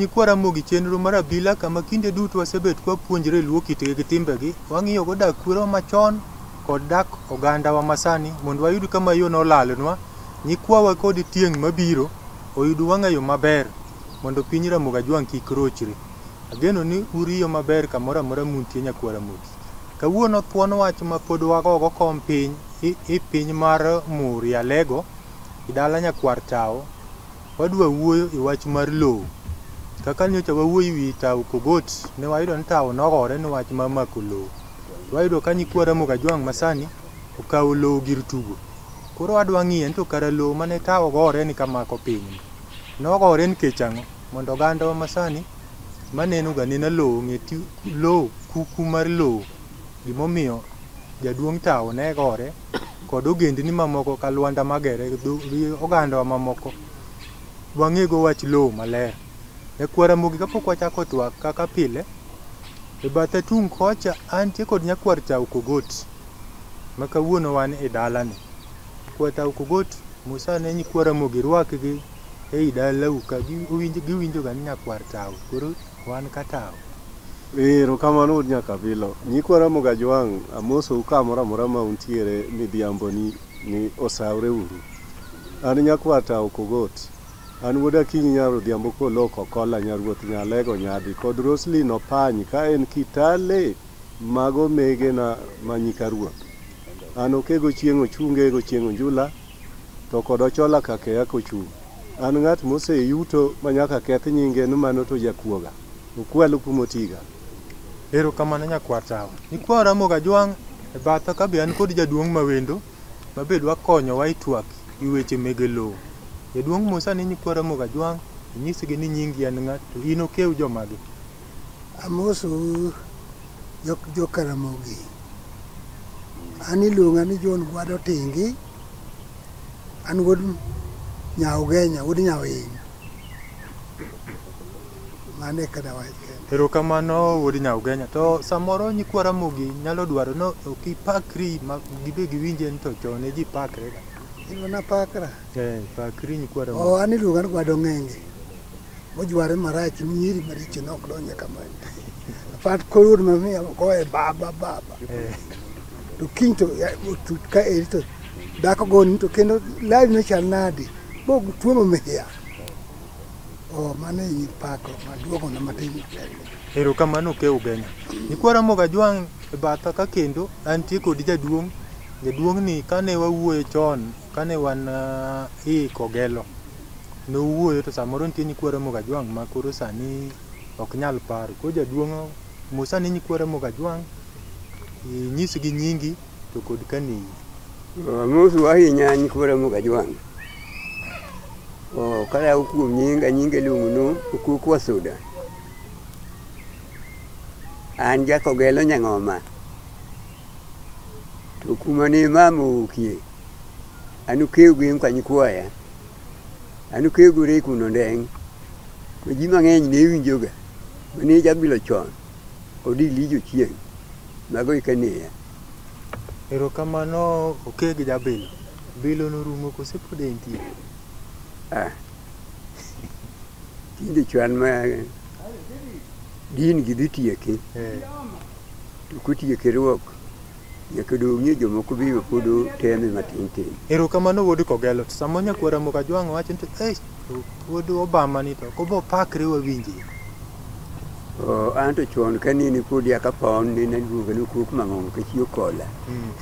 Nyikwa Ramogi chenro mar abila kama kinde duto wasebet kwa puonjre luo kitgi gi timbegi, wang'iyo go dak kwero machon kod dak ogandawa masani mondo wayud kama yo nolalnwa, nyikwawa kod tieng' mabiro oyud wang'ayo maber mondo piny Ramogi Ajwang' kik rochre. Ageno ni uriyo maber kamoro amora muntie nyakwa Ramogi. Kawuono thuon wach ma pod wagogo kom piny i piny mar Muria Lego, i dala nyakwar Tao, Wadwa wuoyo e wach mar lowo. Kaka nyocha wawuoyo e wi tawo Pokot, ne wayudo ni tawo nogore ni wach mar mako lowo. To wayudo ka nyikwa Ramogi Ajwang' masani okawo lowo gir tugo. Koro wadwa ng'iye ni to kara lowo mane tawo gore ni kamako pinyni, nogore nikech ang'o? Mondo ogandawa masani maneno ga anena lowo ong'e lowo, kuku mar lowo, gimomiyo jaduong' tawo ne gore. kod ogendni mamoko ka Lwanda Magere gi ogandawa mamoko wang'ego wach lowo maler. E kwa Ramogi kapok wachako twak kaka pile, e batha tung' kocha antie kod nyakwar Chau Kogot ma kawuono wan e dalani. Kwa Chau Kogot Musa ne nyikwa Ramogi rwakgi ei dalau ka giwinjoga ni nyakwar Chau. Koro Wan ka tao. Erokamano wuod Nyakabilo. Nyikwa Ramogi Ajwang' amosou kamoro amora ma untiere midhiamboni ni osawre uru. An Nyakwa Tao Kogot. An wuod Akinyi Nyar Odhiambo Kolok Okolla Nyar Ruoth Nyalego Nyadhi kod Roselyn Opany ka en Kitale mag omegena ma nyika ruoth. An Okego Chieng' Ochunge Ego Chieng' Onjula. To kod ochola ka keya kochung'. An ng'at mose yuto ma nyaka keth nyinge ni mano to jakuoga. Okwalo kuma otiga. Ero kamano nyakwar tawa. Nyikwa Oramogo Ajwang' e batha ka be an kod jaduong' ma wendo ma be dwa konyowa e twak e wi weche mege lowo. Jaduong' mosani nyikwa Oramogo Ajwang' inyisgi ni nyingi en ng'a to in okew jomage. Amosou jo Karamogi. An iluonga ni John Gwado Tingi. An wuod Nyaugenya, wuod Nyawiny. Mano e kada wach kende. Erokamano wuod Nyaugenya. To samoro nyikwa Ramogi nyalo dwaro no ok ipakri ma gibe giwinje ni to chon ne ji pakre ga. Iluonga pakra. Eh, pakri nyikwa Ramogi. Oh, an iluonga ni Gwado Ng'enge. mojware marach nyiri maricho ne ok donje kamano apart koyud mamia goye baba baba to kiny to ya- otut ka eri to dhako goni to kendo lari nochal nadi motuomo miya o mano e pako maduogona matin erokamano ke ugenya nikwara moga jwang' e batha ka kendo antie kod jaduong' jaduong' ni kane wawuoye chon kane wan ah, i kogelo nowuoyo to samoro nitie nyikwa Ramogi Ajwang' ma koro sani ok nyal paro. Koro jaduong' mos ane nyikwa Ramogi Ajwang', inyisgi nyingi to kod kaneyi. Amosu ahinya nyikwa Ramogi Ajwang'. Oh, kalawo kuom nyinga, nyinga iluongo ni Okuku Wasuda. An jakogelo Nyang'oma. To kuma ni mama owuokie, an ukew gi nyikwa nyikwaya. An okegore e kuno ndeng' ma ji mang'eny ne winjoga mane jabilo chon kod Elija Ochieng mago eka neya. Erokamano Okeg Jabilo. Bilo norumo kose pod entie? Ah. Tinde chwan ma din gi dhi tieke Eh. to kotieke ruok Nyaka dong' ni jomoko biro pod teme matin tin. Erokamano wuod Kogelo. To sama nyakwar Ramogi Ajwang' wacho ni eh to wuod Obama ni to ok obo pakre wawinje. Oh, an to chon ka nene podi aka pon nene aluonga ni kuok mang'ongo ka chiyo kola. Mm.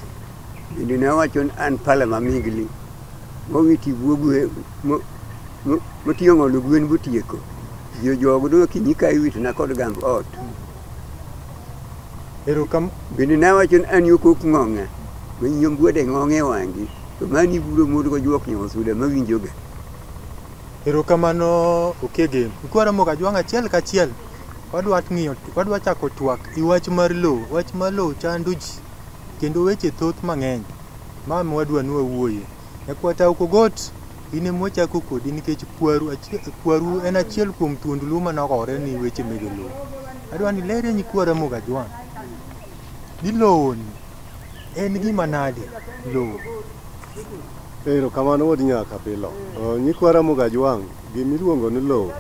Bende ne awacho ni an pala ma migli. Mong'i tibuo gwe mo- mo- motiyo ng'olo gwen botieko. Jo jogo dong' akinyi ka iwitona kod gamb ot. Erokam. Bende nawacho ni an yokok ng'ong'e, ma nyombuode ng'ong'e e wang'i, to mani iburo mond gojuok nyosuda mawinjoga. Erokamano Okegem. Ikwara mok ajwang' achiel kachiel. Wadwa ng'iyo, wadwa chako twak i wach mar lowo. Wach mar lowo chando ji kendo weche thoth mang'eny ma wadwa ni wawuoye. Nyakwata ok ogot In ema wachako kodi nikech kwaru, kwaru en achiel kuom thuond Luo mane ogore ni weche mege Luo. Adwa ni lere ni kwa Ramogi Ajwang'. Ni lowo ni en gima nade lowo? Ero kamano wuod nyaka pilo. Nyikwa Ramogi Ajwang' gima iluongo ni lowo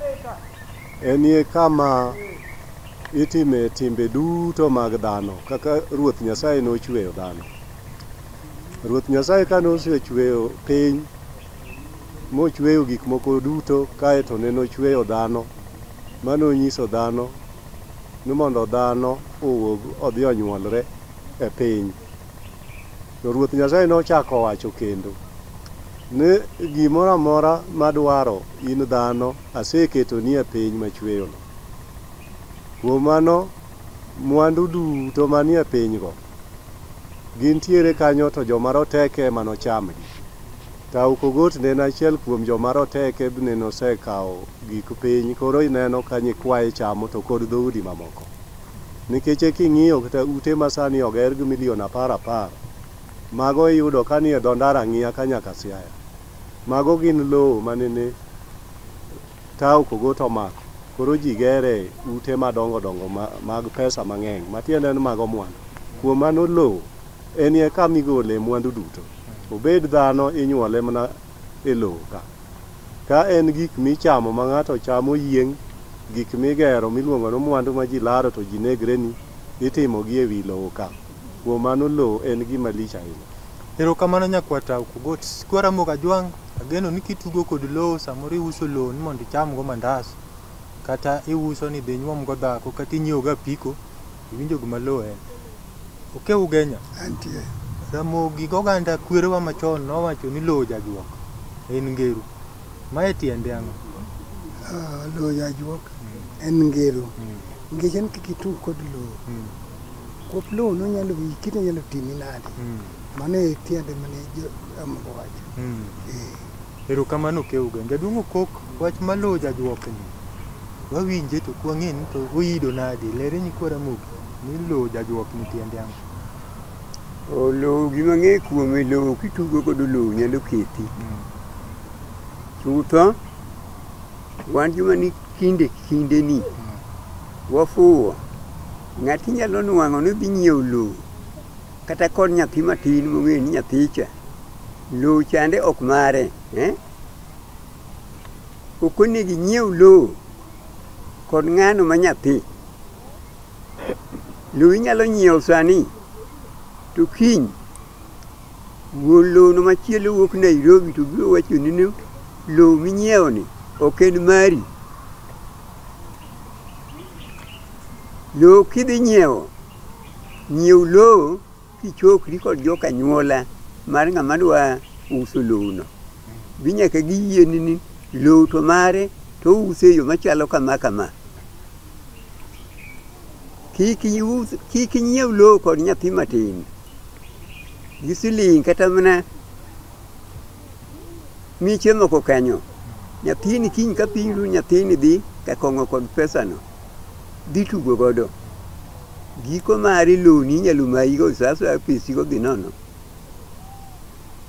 en ye kama itime timbe duto mag dhano kaka Ruoth Nyasaye nochweyo dhano. Ruoth Nyasaye kane osechweyo piny mochweyo gik moko duto kae to ne nochweyo dhano mane onyiso dhano ni mondo dhano owuog odhi onyuolre e piny. To Ruoth Nyasaye nochako owacho kendo ni gimoro amora madwaro in dhano aseketoni e piny machweyono. Kuom mano mwandu duto manie pinygo gintiere kanyo to joma roteke ema nochamgi. Tauc Ogot ne en achiel kuom joma roteke bne nosekawo gik piny koro ineno ka nyikwaye chamo to kod dhoudi mamoko. Nikeche king'iyo kta ute ma sani oger gi milion apar apar, mago iyudo ka nie dho ndara ng'iya ka nyaka Siaya. Mago gin lowo manene. Ka ok ogo to omako. Koro ji gere ute madongo dongo mag pesa mang'eny matiende ni mago mwandu. Kuom mano lowo enie kama igole mwandu duto. Obed dhano inyuole mana e lowo ka. Ka en gik michamo ma ng'ato chamo oyieng', gik migero miluongo ni mwandu ma ji laro to ji negreni, itimogi e wi lowo ka. Kuom mano lowo en gima lich ahinya. Erokamano nyakwa Tau Kugot. Sikwa Ramogi Ajwang', ageno ni kitugo kod lowo samoro iuso lowo ni mondo ichamgo mandas, kata iuso ni idhi inyuomgo dhako, kata inyiewo go apiko, iwinjo gima lowo en. Okew Ugenya, Antie. Ramogi goganda kwerewa machon nowacho ni lowo jajuok, en ngeru. Mae tiende ang'o? Ah, lowo jajuok en ngeru. Nikech en kikitug kod lowo, Kop lowo nonyalo wiyi kit onyalo timi nade. Mm. Mano e tiende mane Amoko wacho. Mm. Eh. Erokamano Keuga. Jaduong' Okok, wach ma lowo jajuokni. Wawinje to kwang'e ni to oyido nade. Lere nyikwa Ramogi ni lowo jajuokni tiende ang'o? O lowo gima ng'e kuome lowo kitugo kod lowo nyalo kethi. Mm. Chutho. Wan joma ni kinde kinde ni wafuwo ng'ati nyalo nwang'o ni dhi nyiewo lowo kata kod nyathi matin mong'eyo ni nyathicha lowo chande ok mare eh? ok onego inyiew lowo kod ng'ano ma nyathi lowo inyalo nyiewo sani to kiny Wuon lowono machielo wuok Nairobi to biro wachoni ni lowo minyiewoni ok en mari. Lowo kidhi nyiewo, nyiew lowo kichokri kod joka anyuola mar ng'ama dwa uso lowono. Be nyaka giyieni ni lowo to mare to ouse e yo machalo kama kama. Kik inyiew lowo kod nyathi matin. gi siling kata mana mi chiemo ko kanyo nyathini kiny ka piny ru nyathini dhi ka kong'o kod pesano dhi tugo godo giko mari loni inyalo mayi go sa asaya pesi go dhi nono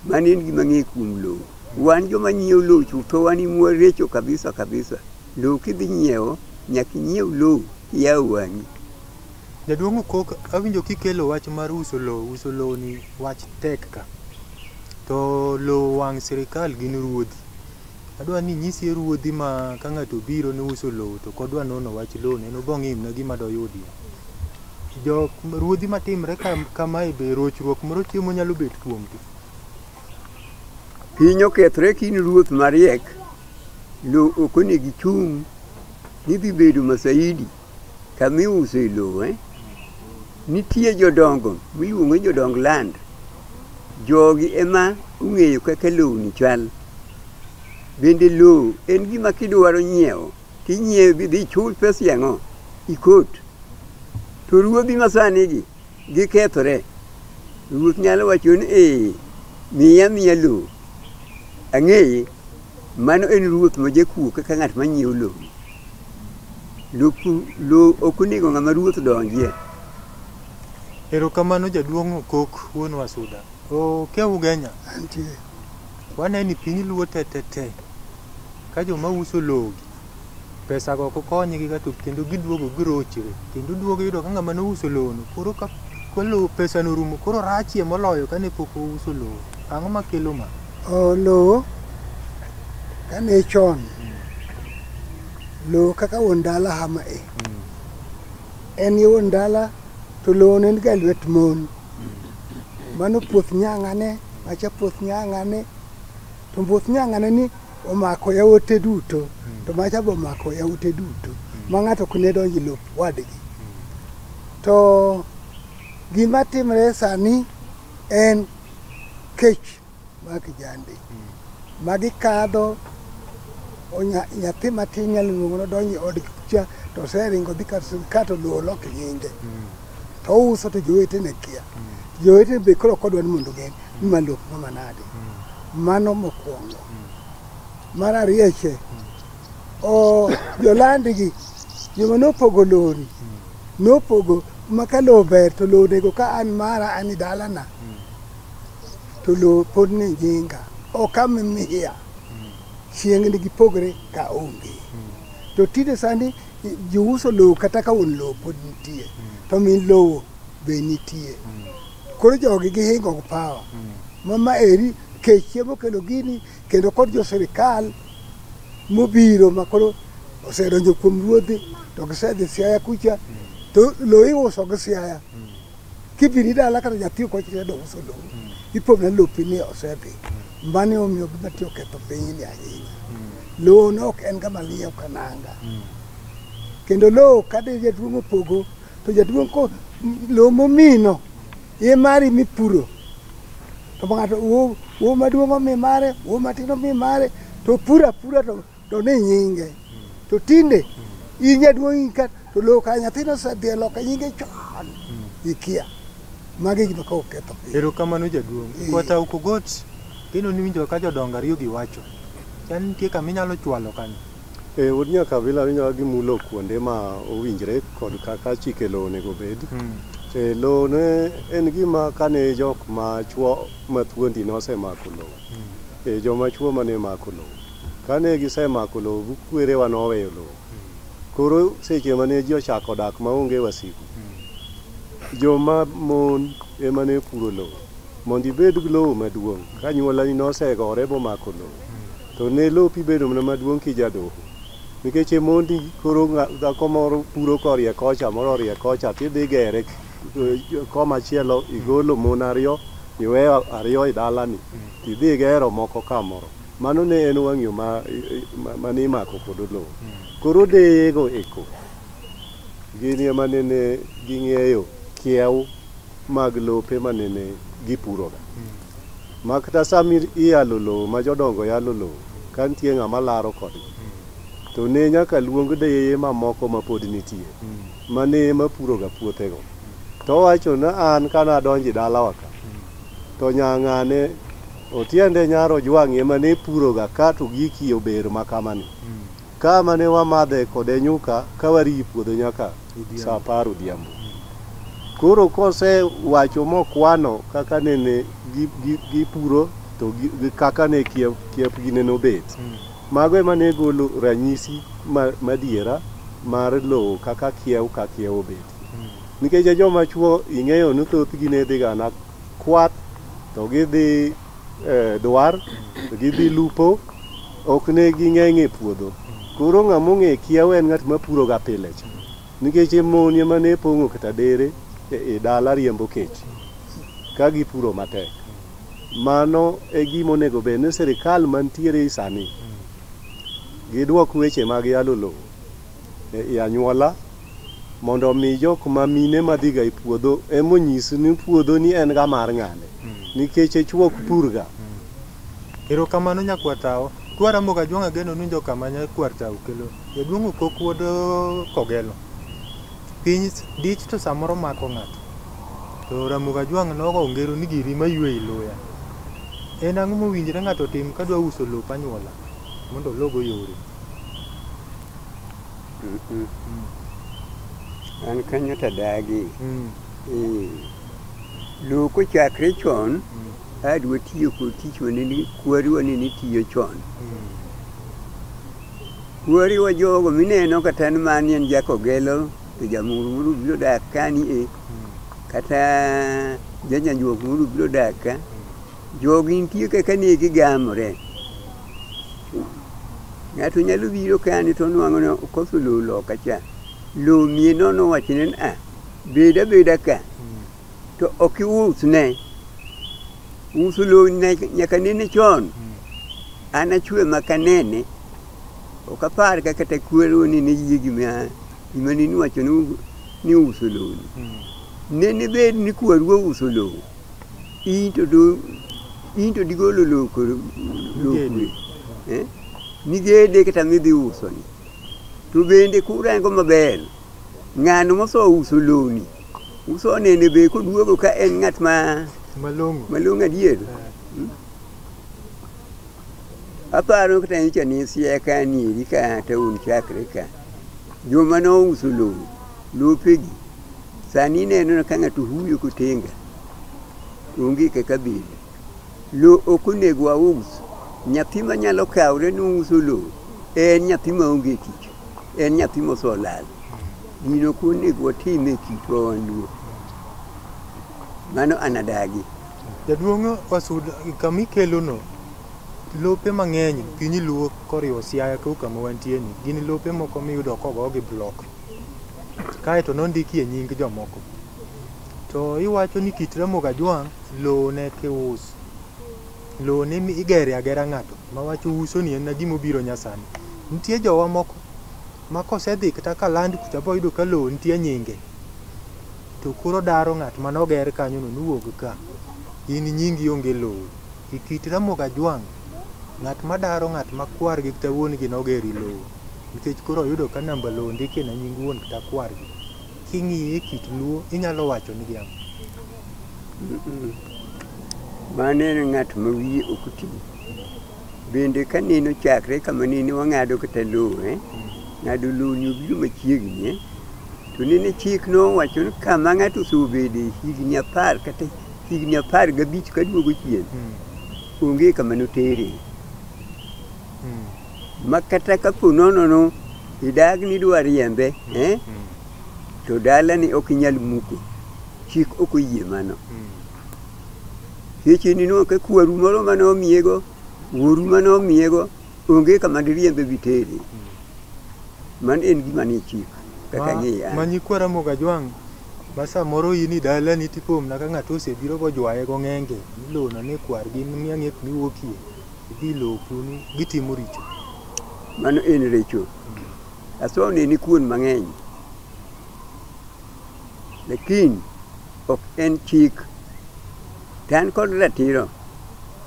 mano en gima ng'e kuom lowo wan joma nyiewo lowo chutho wan imwa recho kabisa kabisa lowo kidhi nyiewo nyaka inyiew lowo iyaw wang'i Jaduong' Okok, awinjo kikelo wach mar uso lowo, uso lowo ni wach tek ka. To lowo wang' sirikal gin ruodhi. Adwa ni inyisie ruodhi ma ka ng'ato obiro ni uso lowo to ok odwa nono wach lowo ni en obo ong'i mana gima doyudie. Jok ruodhi matimre kam, kamae be rochruok moro chiemo nyalo bet kuomgi. Piny okethre ka in ruoth mariek, lowo ok onego ichung' ni dhi bedo masaidi. kama iuso e lowo eh? nitie jodongo miluongo ni jodong land jogi ema ong'eyo kaka lowni chal bende lowo en gima kidwaro nyiewo tinyiewo bidhi ichul pesa yang'o ikot to ruodhi masanigi gikethore. Ruoth nyalo wacho ni ee, miya miya lowo. Ang'eye, mano en ruoth ma jakuo kaka ng'at ma nyiewo lowo. Loku- Lowo ok onego ng'ama ruoth donjie. Erokamano jaduong' Okok wuon Wasuda. Oke ugenya. Waneno ni piny luo te te te ka joma uso lowo Pesago ok konygi ga to kendo giduogo girochre. Kendo duogo iyudo ka ng'ama nouso lowono koro ka ka lowo pesano orumo koro rachie moloyo kane pok ouso lowo. Ang'o makelo ma? O, lowo kane chon lowo kaka wuon dala hama e en ye wuon dala to lowo ne en ga lwet mon mano puoth nyang'ane macha puoth nyang'ane To mbuth nyang'ane ni omako yawote duto, to macha be omako yawote duto, ma ng'ato ok ne donj e lop wadgi. To gima timre sani en kech mar kijande. Magi kadho, onya- nyathi matin nyalo luongo nodonj e od cha to oseringo dhi kar sirkal to luwo lok nyinge. to ouso to jowetene kia jowetene be koro kodwa ni mondo gen ni ma lop no manade mano mokwongo mar ariyo che o jolandigi joma nopogo lori nopogo ma ka lowo ber to lowo onego ka an mara an i dalana to lowo pod ni nyinga ok amimiya chiengni gipogre ka onge to tinde sani Jouso lowo kata ka un lowo pod nitie, hmm. to min lowo be nitie. Hmm. Koro jogi gihingo gi pawa. Hmm. Mama eri kech chiemo kendo gini kendo kod jo sirikal mobiro ma koro osedonjo kuom ruodhi to gisedhi Siaya kucha to lowo iuso gi Siaya. Kidhi ni dala kata nyathi ok ochire do uso lowo. Ipone lopi ni osedhi. Mane omiyo gima tiyo ketho piny ni ahinya. Lowo no ok en kama liye ok ananga. Kendo lowo kade jaduong' opogo to jaduong' ko m- lowo momino ye mari mipuro. To ng'ato wo wo maduong' omi mare, wo matin omi mare to pura pura to to ni nyinge to tinde in jaduong' ka to loka nyathino osedhi e loka nyinge chon ikia magi gima ka oketho piny erokamano jaduong' Eh. kwata ukogot kendo niwinjo ka jodongo ariyo giwacho chan nitie kama inyalo chwalo kanyo E wuod nyakabila winjo ka gimulo kuonde ma owinjre kod kaka chike lowo onego bed. E lowo ne en gima kane jok ma chwo ma thuondi nosemako lowo. E joma chwo mane mako lowo. Kane gisemako lowo bu kwerewa noweyo lowo. Koro seche mane ji ochako dak maonge wasigu, joma mon ema ne puro lowo. Mondo ibed gi lowo maduong' ka anyuolani nosegore bomako lowo, to ne lopi bedo mana maduong' kijadoho. Nikech e mondi koro ng'a- dhako moro puro korie kocha, moro orie kocha, tidhi gere k- eh, koma chielo, igolo mon ariyo, iweyo ariyo e dalani, tidhi igero moko kamoro. Mano ne en wang'yo ma, ma, ma nimako kod olowo. Koro deyego eko gini ema nene ging'eyo kiew mag lope ma nene gipuroga. Ma kata sama i- iyalo lowo ma jodongo yalo lowo, ka nitie ng'ama laro kodgi, to ne nyaka luong deyeye mamoko ma pod nitie, ma ne ema puroga puothego. To owacho ni an ka nadonjo e dalawa ka, to nyang'ane To tiende nyar ojwang'i ema ne puroga ka to giki ober ma kama ni. Ka ma ne wamadhe kode nyuka ka wariyi puodho nyaka sa apar odhiambo. Koro kose wacho mokwano kaka nene gi, gi, gipuro to gi, gi kaka ne kiep, kiepgi nene obet. Mago ema ne golo ranyisi ma, madiera mar lowo kaka kiew ka kiew obet. Nikech e joma chwo ing'eyo ni thothgi ne dhiga na kwath to gidhi eh, dwar to gidhi lupo ok ne ging'eny e puodho koro ng'ama ong'e kiawa en ng'at ma puroga pile cha nikech mon ema ne pong'o kata dere e e dala riembo kech ka gipuro matek mano e gima onego bed ni sirikal mantiere sani gidwok weche mag yalo lowo e anyuola mondo omi jok ma mine madhiga e puodho emonyis ni puodho ni en ga mar ng'ane nikech e chuok purga Erokamano nyakwar Tao. Twaramo ga Juang' Ageno nunjo kama nyakwar Tao kelo. Jaduong' Okok wuod eh, Kogelo. Piny s- dich to samoro mako ng'ato. To Ramoga Juang' nogo ngero ni giri maywe iluya. En ang'o mowinjre ng'ato otim kadwa uso lop anyuola mondo ologo yore? Mm-mm. an kanyo to adagi Mm. Eh, lowo kochakre chon adwa tiyo kod tich wanene kwari wanene tiyo chon kwari wa jogo mineno kata ni mani en jakogelo to jamuru moro biro dak kani e kata janyanjuok moro biro dak ka Jogi nitie kaka ne gigamore. Ng'ato nyalo biro kani to onwang'o ni okoso lowo loka cha. Lowo mie nono wachne ni a bed abeda ka to ok iusne. Uso lowo ne- nyaka nene chon. An achwe maka nene. Ok apar ka kata kwero ni ne yie gima gima ne niwacho ni u- ni uso lowo. Nene bed ni kwaru ouso lowo. in to do in to digolo loko lokwe eh? migede kata midhi uso ni to bende kurango maber ng'ano moso uso loni uso nene be koduogo ka en ng'at ma malong'o malong'o adier hmm? aparo kata nyocha ne siaya ka nieri ka taon chakre ka joma nouso lowo lopegi sani ineno ka ng'ato huyo kotenga onge kaka bile. Lo ok onego waus. Nyathi manyalo kawre ni uso lo en nyathi maonge tich, en nyathi mosolal. Gino ok onego watim e kitwa wan luo. Mano an adagi. Jaduong' Wasud, kama ikelono, lope mang'eny piny luo koriwo Siaya kau kama wantie ni, gin lope moko miyudo kogogi block kaeto nondikie nying jomoko. To iwacho ni kit Ramogi Ajwang' lowo ne kius. Lowo ne igere agera ng'ato ma wacho uso ni en na gima obiro nyasani. Nitie jowa moko ma kosedhi kata ka land kucha boyudo ka lowo nitie nyinge. To koro daro ng'at mane oger kanyo no ni wuog ka. In nyingi onge lowo. E kit Ramogi Ajwang' ng'at ma daro ng'at ma kwar gi kata wuon gi nogeri lowo. Nikech koro oyudo ka namba lowo ondikie na nying wuon kata kwar gi. King'iye kit Luo inyalo wacho nigi ang'o? Mano en ng'at ma wiye ok ti. Bende ka neno chakre kama nene wang'ado kata lowo, eh? ng'ado lowo ni obiro machiegni. Eh? To nene chik nowacho ni kama ng'ato osebedo higni apar kata higni apar gabich kaduogo chien, hmm. onge kama notere. Hmm. ma kata ka po nono no idag ni dwa riembe eh? to dala ni ok inyal muko chik ok oyie mano seche ni no ka kwaru moro ma nomiyego wuoru ma nomiyego onge kama diriembe bitere man en gima ni chik kaka Ma- ng'iya ma nyikwa ramogi ajwang' ma samoro in i dalani tipomna ka ng'ato osebiro bojwaye gong'enge milona ni kwargi miang'ek miwuokie Gidhi loku ni gitimo richo. Mano en richo. Aswa ne ni kuon mang'eny. Lakini ok en chik. To an kod ratiro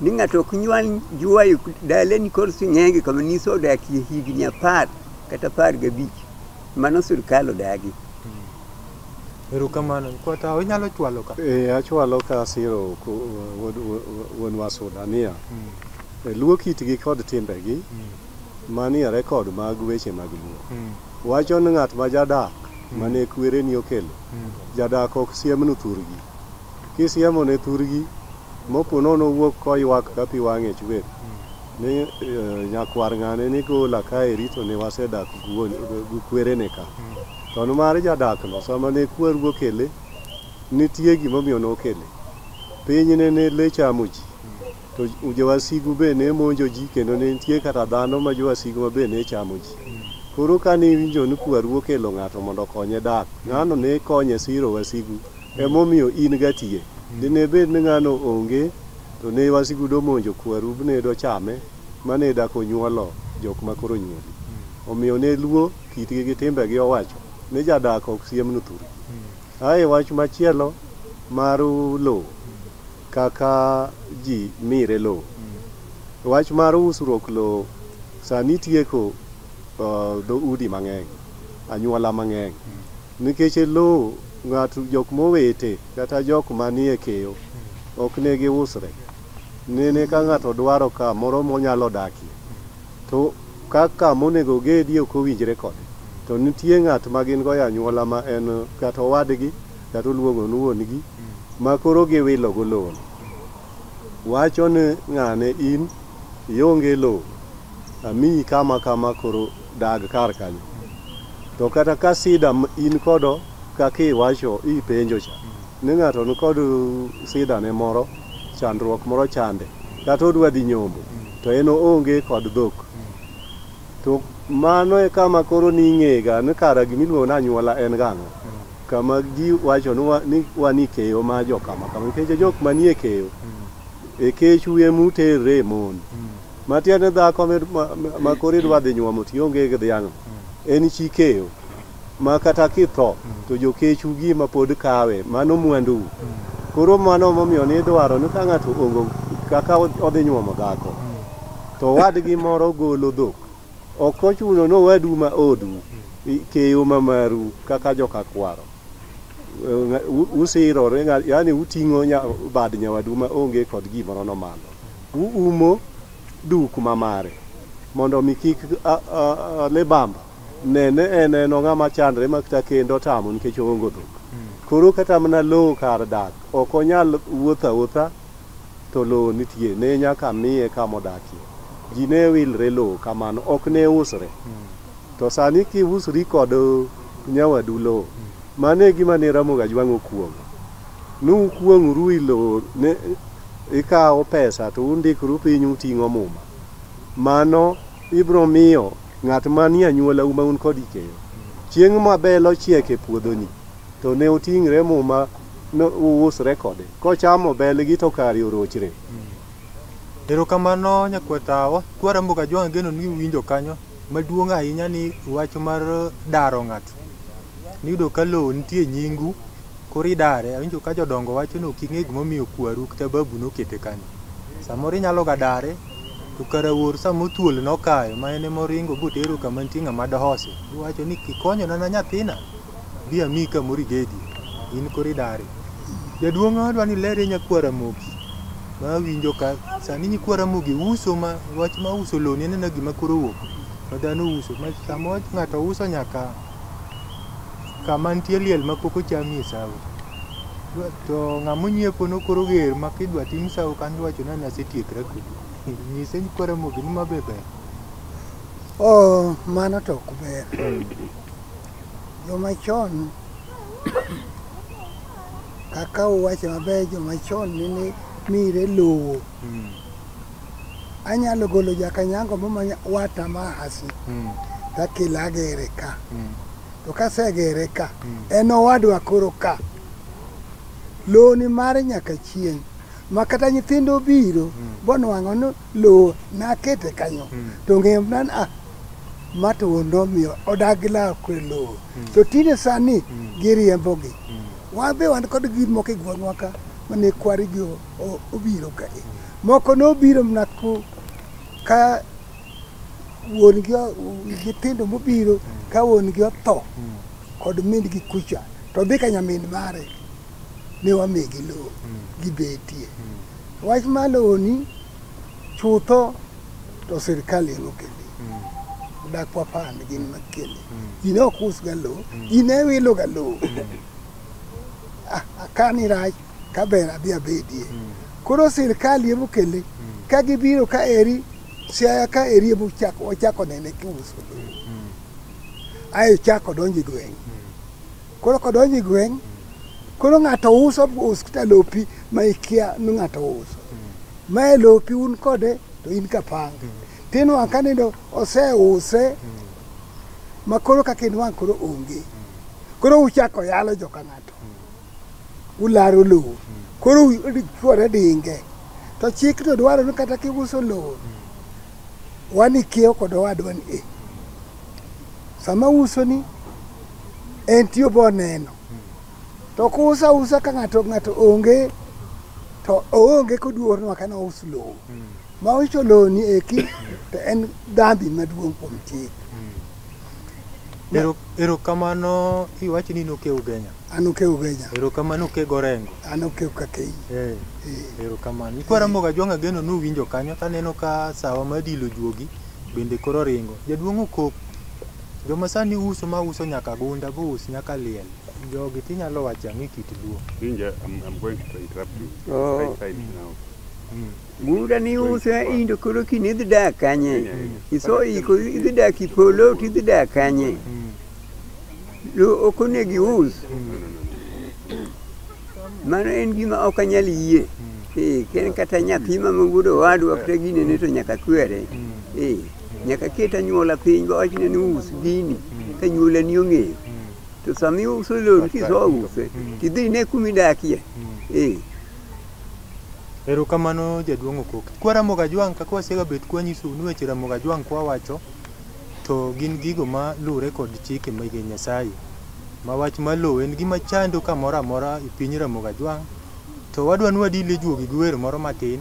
ni ng'ato ok nyual juayo daleni kod sing'enge kama niso odakie higni apar kata apar gabich. Mano sirkal odagi. Erokamano. Kwata inyalo chwalo ka. Ee, achwalo ka asiro ku- wuod- wuod- wuon Wasuda niya, Mm. e, luo kitgi kod timbegi Mm. manie rekod mag weche mag luo. Mm. Wacho ni ng'at ma jadak mane kwereni okelo, Mm. jadak ok siemnu thurgi. Kisiemone thurgi, mopo nono owuok koywak ka pi wang'e chwer, ni eh, nyakwar ng'ane ni gola kae rito ne wasedak gi wuon- gi kwerene ka. Mm. To nimar jadakno sama ne kwergo okele, nitie gimomiyo nokele. Pinyne ne le chamo ji, to jowasigu be ne monjo ji kendo ne nitie kata dhano ma jowasigu ma be ne chamo ji. Koro ka ne iwinjo ni kwergo okelo ng'ato mondo okonye dak, ng'ano ne konye siro wasigu, emomiyo in gatiye. Dine bed ni ng'ano onge, to ne wasigu domonjo kweru bne dochame, ma ne dak onyuolo jok ma koro onyuoli. Omiyo ne luo. kitgi gi timbegi owacho ni jadak ok siemnu thur. Ae wach machielo mar lowo kaka ji mire lowo. Wach mar usruok lowo sani tieko uh, dho udi mang'eny, anyuola mang'eny. Nikech lowo ng'ato jok mowete kata jok manie keyo ok ne giusre. Nene ka ng'ato dwaro ka moro monyalo dakie, to ka ka monego ogedie ok owinjre kode, to nitie ng'at ma gin go e anyuola ma en kata owadgi kata oluongo ni wuongi ma koro giwilo go lowo no. Wacho ni ng'ane in ionge lowo, amiyi kama kama koro dag kar kanyo. To kata ka sida ma in kodo kaka iwacho ipenjo cha ni ng'ato ni kod sida ne moro, chandruok moro chande kata odwa dhi nyombo to en oonge kod dhok to mano e kama koro ning'ega ni kara gimiluongo ni anyuola en gang'o kama ji wacho ni wa- ni wan e keyo ma jo kama kama nikech jok manie keyo e kech wiye muterre e mon matiende dhako ma- ma- ma koro idwa dhi nyuomo tionge gi dhiang'no en chi keyo ma kata kitho to jokechu gima pod kawe mano mwandou koro mano momiyo ni idwaro ni ka ng'ato ongo kaka odhi nyuomo dhako to wadgi moro golo dhok ok ochuno ni owadu ma odu i- keyo ma maru kaka joka kwaro Eh, u- usirore nga- yaani uting'o nya- bad nyawadu ma onge kod gimoro no malo uumo duk ma mare mondo mi kik a- a- a- le bamba Ne, ne en eno ng'ama chandre ma kata kendo otamo nikech oongo dhok. Koro kata mana lowo kar dak, ok onyal wuotho awuotha to lowo nitie, ne nyaka miye kama odakie. Ji ne wilre lowo kamano, ok ne usre. To sani kiusri kod nyawadu lowo, mano e gima ne Ramogi Ajwang' okuong'o. Nukuong'uru i lowo, ne ikawo pesa to undikru piny uting'o muma. Mano ibiro miyo Ng'at manie anyuolau ma un kod ikeyo. Chieng' ma bel ochiek e puodhoni, to ne oting're muma no uusre kode. Kochamo belgi to kare orochre. Erokamano nyakwetawa, kwa Ramogi Ajwang' ageno ni uwinjo kanyo. Maduong' ahinya ni wach mar daro ng'ato. Niyudo ka lowo nitie nyingu, koro idare. Awinjo ka jodongo wacho ni ok ing'e gimomiyo kwaru kata babu nokete kanyo. Samoro inyalo ga dare, to kara wuoru sama othuol nokayo ma en ema oringo botero kama nitie ng'ama dohose. Iwacho ni kikonyona na nyathina, bi amiyi kamoro igedie. In koro idare. Jaduong' adwa ni iler ne nyakwa Ramogi ma awinjo ka sani nyikwa Ramogi uso ma wach ma uso lewni en aena gima koro owuok ma dhano uso ma sama ng'ato uso nyaka kama nitie liel ma pok ochamie sawo to ng'ama onyiepo no koro ger ma kidwa tim sawo kan iwacho ni nasetiekra kodi nyise ni koro mogi ni ma be ber oh mano to ok ber joma chon kaka uwacho maber joma chon nene mire lowo anyalo golo jakanyango mo manya wata ma hasi mm. takele agere ka mm. to kasegere ka mm. en owadwa koro ka loni mare nyaka chieng ma kata nyithindo biro mm. bonwang'o ni lowo nakete kanyo mm. to ng'emnan a ah, mato wuondo omiyo odag gi lawo kwe lowo mm. to tinde sani mm. giriembogi mm. wan be wan kod gir moko e gweng'wa ka mane kwarigo o- obiro ka moko nobiro mana ko- ka wuon gi o- nyithindo mobiro ka wuon gi otho kod min gi kucha to dhi ka nyamin mare ne wamigi lowo gibetie wach ma lowoni chutho to sirkal en okeli dak wapan gin makeli in ok usga lowo in ewiloga lowo Ah, akani rach ka ber adhi abedie koro sirkal emo kele ka gibiro ka eri siaya ka eri emo chako ochako nene kiuso lowo ae chako donjo e gweng' koro kodonjo e gweng' koro ng'ato uso us kata lopi ma ikia ni ng'ato uso mae lopi un kode to in kapanga tinwang' ka nindo oseuse ma koro kaka inwang' koro onge koro uchako yalo joka ng'ato ularo lowo koro chuore dinge to chik to dwaro ni kata kiuso lowo wan ikiewo kod owadwa ni e sama uso ni en tiyo bo neno to kusa usa ka ng'ato ng'ato onge to oonge koduor nwa kana us lowo ma uso lowo ni eki to en dhambi maduong' kuom chik Ero, erokamano iwacho ni noke ugenya. An oke ugenya. Erokamano oke gorengo. An oke ukakei. Eh. Eh. Erokamano. Ikwara moga jwanga geno ni uwinjo kanyo taneno ka sawa ma dilo juogi bende koro ringo. Jaduong' okok. Joma sani uso ma uso nyaka gunda bo us nyaka liel. Jogi tinyalo wacha ni kit luo. Inja, I'm, I'm going to interrupt you. Oh. Right side now. Mm. Buda ni use indo koro kini idhi dak kanye? Iso iko idhi dak ipolo to idhi dak kanye? Lo ok onego ius. Mano en gima ok anyal yie. Eh, ken kata nyathi ma wuod owadwa kata gine ne to nyaka kwere. Eh, nyaka ket anyuola piny ba wachne ni us gini ka nyuola ni ong'eyo. To sama iuso lon kiso use, tidhi ine kuma idakie. Eh, Erokamano jaduong' Okok. Kwa Ramogi Ajwang' kaka wasega bet kwanyisou ni weche Ramogi Ajwang' kwawacho to gin gigo ma luwre kod chike mege Nyasaye. Ma wach ma lowo en gima chando kamoro amora e piny Ramogi Ajwang' to wadwa ni wadil e juogi gi wer moro matin.